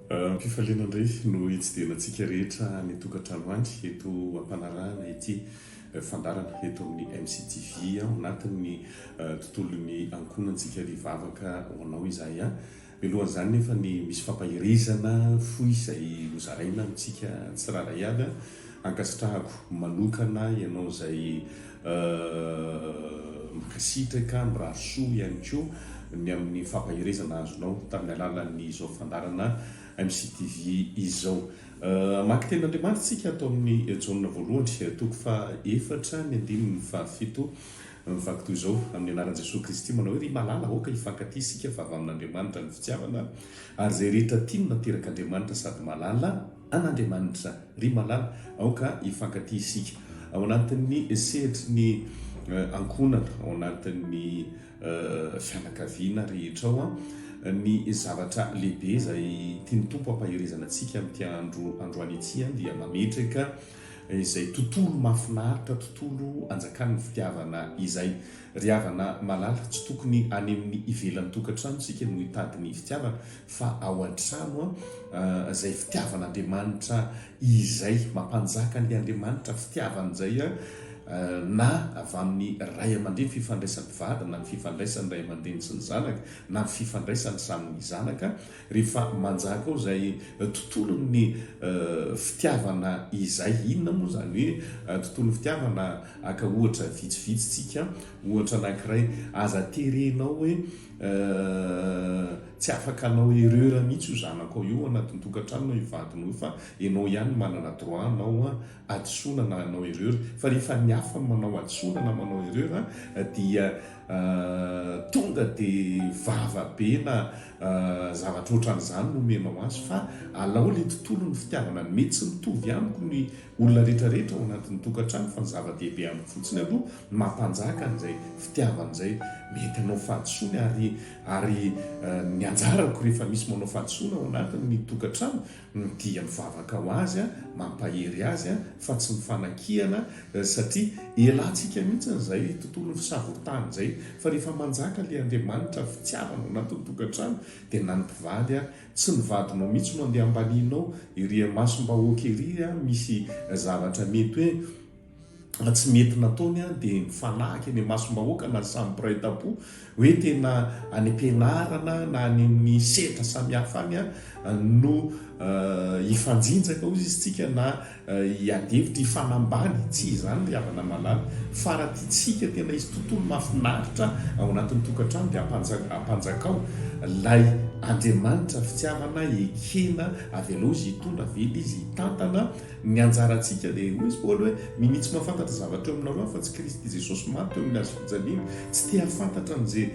Am-pifaliana indray no hitsidihana antsika rehetra any an-tokantrano any eto am-panarahana ity eh, fandarana eto amin'ny MCTV ao anatin'ny eh, tontolon'ny ankohonantsika ry vavaka ho anao izahay. Mialoha izany nefa ny misy fampaherezana fohy izay hozaraina amintsika tsirairay avy a! Ankasitrahako manokana ianao izay mankasitraka, mirary soa ihany koa ny amin'ny fampaherezana azonao tamin'ny alalan'izao fandaharana MCTV izao. Hamaky tenin'Andriamanitra isika ato amin'ny Jaona voalohany, toko faha efatra, ny andininy fahafito Mivaky toy izao, Amin'ny anaran'i Jesoa Kristy, manao hoe, Ry Malala, aoka hifankatia isika fa avy amin'Andriamanitra ny fitiavana, ary izay rehetra tia no naterak'Andriamanitra sady malala an'Andriamanitra. Ry Malala, aoka hifankatia isika. Ao anatin'ny sehatry ny ankohonana, ao anatin'ny fianakaviana rehetra ao, ny zavatra lehibe izay tian'ny Tompo hampaherezana antsika amin'ity andro androany ity dia mametraka izay tontolo mahafinaritra tontolo anjakan'ny fitiavana izay. Ry havana malala tsy tokony any amin'ny ivelan'ny tokantrano isika no hitady ny fitiavana fa ao antrano izay fitiavan'Andriamanitra izay mampanjaka an'ilay Andriamanitra fitiavana izay na avy amin'ny ray aman-dreny fifandraisan'ny mpivady na ny fifandraisan'ny ray aman-dreny sy ny zanaka na ny fifandraisan'ny samy zanaka Rehefa manjaka ao izay tontolon'ny fitiavana izay, inona moa izany hoe tontolon'ny fitiavana? Haka ohatra vitsivitsy tsika, ohatra anankiray, aza terenao hoe tsy afaka hanao erreur mihitsy io zanakao io ao anatin'ny tokantranonao, io vadinao io, fa ianao ihany manana droit hanao hadisoana na hanao erreur, fa rehefa ny hafa no manao hadisoana na manao erreur dia tonga dia vava be na zavatra ohatran'izany no omenao azy fa alao ilay tontolon'ny fitiavana ny mety tsy mitovy amiko ny olona rehetra rehetra ao anatin'ny tokantrano fa ny zava-dehibe amiko fotsiny aloha ny mampanjaka an'izay fitiavana izay mety hanao fahadisoana ary ary eh, ny anjarako rehefa misy manao fahadisoana ao anatin'ny tokantrano no dia mivavaka ho azy, mampahery azy fa tsy mifanakiana satria elantsika mihitsy izay tontolon'ny fisavoritahana izay fa rehefa manjaka ilay Andriamanitra fitiavana ao anatin'ny tokantrano dia na ny mpivaly ary tsy ny vadinao mihitsy no andeha ambanianao ery imasom-bahoaka ery misy zavatra mety hoe na tsy mety nataony an dia mifanahaka eny imasom-bahoaka na samy mpiray tampo hoe tena any am-pianarana na any amin'ny sehatra samihafa any an no hifanjinjaka hoy isika na hiady hevitra hifanambany tsy izany ry havana malala fa raha tiantsika tena hisy tontolo mahafinaritra ao anatin'ny tokantrano dia ampanjakao lay andriamanitra fitiavana ekena avy aloha izy hitondra avela izy hitantana Ny anjarantsika dia, hoy izy Paoly hoe, minia tsy mahafantatra zavatra eo aminareo afa-tsy Kristy Jesosy maty teo amin'ny hazo fijaliana. Tsy te hahafantatra an'izay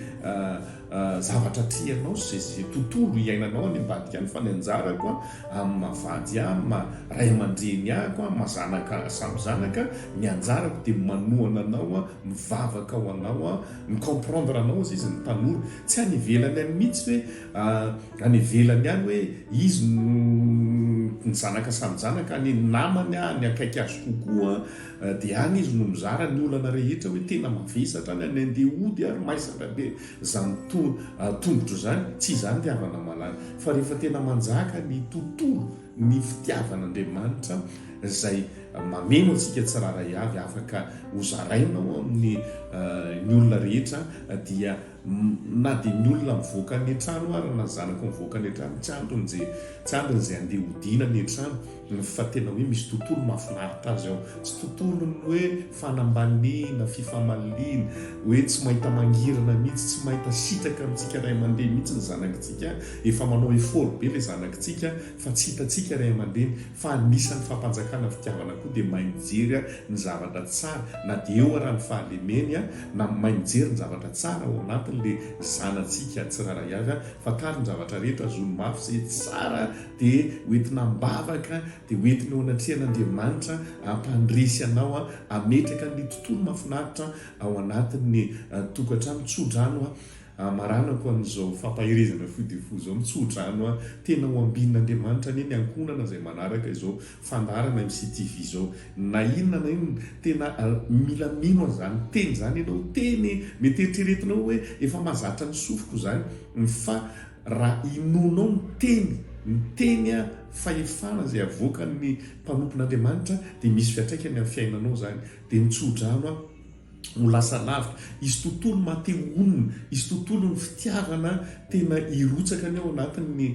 zavatra atrehinao sy izay tontolo iainanao any ambadika any fa ny anjarako amin'ny maha vady ahy, amin'ny maha ray aman-dreny ahy ko, amin'ny maha zanaka ahy samy zanaka, ny anjarako dia manohana anao aho, mivavaka ho anao aho, mi-comprendre anao hozy izy ny tanora. Tsy any ivelany any mihitsy ve any ivelany any hoe izy no ny zanaka samy zanaka any namany any akaiky azy kokoa dia any izy no mizara ny olana rehetra hoe tena mavesatra any any andeha hody ary maizatra be zany tongotro zany tsy izany ry havana malala fa rehefa tena manjaka ny tontolo ny fitiavan'Andriamanitra izay mameno antsika tsirara avy afaka hozarainao amin'ny ny olona rehetra dia Na dia ny olona mivoaka ny an-trano ara na ny zanako mivoaka ny an-trano, tsy antony ze, tsy antony ze andeha hodiana ny an-trano fa tena hoe misy tontolo mahafinaritra azy ao. Tsy tontolon'ny hoe fanambaniana, fifamaliana, hoe tsy mahita mangirana mihitsy, tsy mahita sitraka amintsika ray aman-dreny mihitsy ny zanakitsika, efa manao effort be le zanakitsika fa tsy hitantsika ray aman-dreny. Fa anisan'ny fampanjakana fitiavana koa dia mahay mijery ny zavatra tsara na dia eo ara ny fahalemeny na mahay mijery ny zavatra tsara ao anatiny le zanatsika tsirairay avy fantaro ny zavatra rehetra zony mafy izay tsara dia hoentina ambavaka dia hoentiny eo anatrehan'Andriamanitra ampandresy anao ametraka ny tontolo mafinaritra ao anatin'ny tokatrano tsodrano Amaranako an'izao fampaherezana fohy dia fohy izao, mitsodrano aho, tena ho ambin'Andriamanitra anie ny ankohonana izay manaraka izao fandaharana MCTV izao, na inona na inona, tena mila mino an'izany teny izany ianao, teny e! mety eritreretinao hoe efa mahazatra ny sofiko izany, fa raha inoanao ny teny, ny teny a, fahefana izay avoakan'ny mpanompon'Andriamanitra dia misy fiantraikany amin'ny fiainanao izany, dia mitsodrano aho. no lasa lavitra, izy tontolo mate honina, izy tontolo ny fitiavana tena hirotsaka ny ao anatin'ny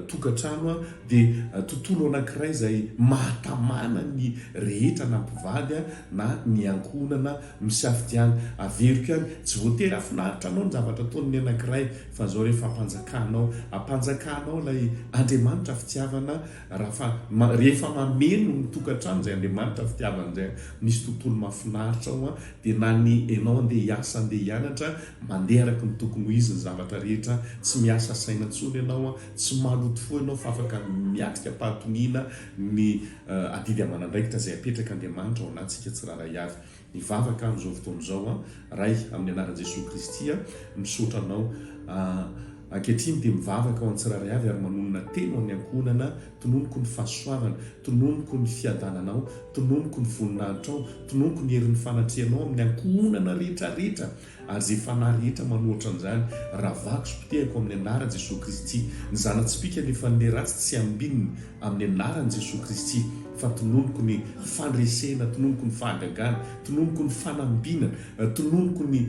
tokantrano dia tontolo anankiray izay mahatamana ny rehetra na mpivady na ny ankohonana misafidiany averiko ihany, tsy voatery hahafinaritra anao ny zavatra ataon'ny anankiray fa zao re fampanjakanao, ampanjakanao ilay Andriamanitra fitiavana Rafa, ma, rehefa mameno ny tokantrano izay Andriamanitra fitiavana izay, misy tontolo mahafinaritra ao an, dia na ny enao andeha hiasa andeha hianatra, mandeha araka ny tokony ho izy ny zavatra rehetra, tsy miasa saina intsony ianao an, tsy maloto fo ianao fa afaka miatrika am-pahatoniana ny, uh, adidy aman'andraikitra izay apetrak' Andriamanitra ho anatsika tsirairay avy. Hivavaka amin'izao fotoana izao aho Ray amin'ny anaran'i Jesoa Kristy aho misaotra Anao aah ankehitriny dia mivavaka ho an'ny tsirairay avy ary manonona teny ho an'ny ankohonana tononiko ny fahasoavana tononiko ny fiadananao tononiko ny voninahitrao tononiko ny herin'ny fanatrehanao amin'ny ankohonana rehetra rehetra Ary izay fanahy rehetra manoatra an'izany, ravako sy potehiko amin'ny anaran'i Jesoa Kristy. Ny zana-tsipìka lefan'ilay ratsy tsy ambinina amin'ny anaran'i Jesoa Kristy, fa tononiko ny fandresena, tononiko ny fahagagana, tononiko ny fanambinana, tononiko ny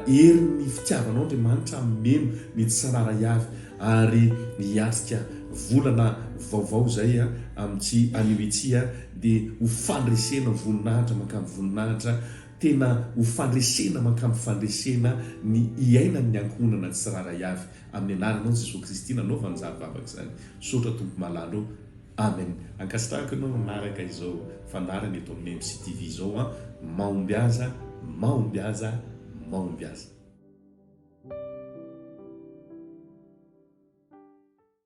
herin'ny fitiavanao Andriamanitra hameno ny tsy tsararay avy ary hiatrika volana vaovao izay amin'ity anio ity dia ho fandresena voninahitra mankany voninahitra Tena ho fandresena mankamy fandresena ny hiainan ny ankohonana tsirairay avy amin ny anaranao Jesoa Kristy nanaovany izany vavaka izany Misaotra Tompo malala ô Amen Ankasitrahako ianao nanaraka izao fandaharana eto amin'ny MCTV izao an Mahombiaza Mahombiaza Mahombiaza.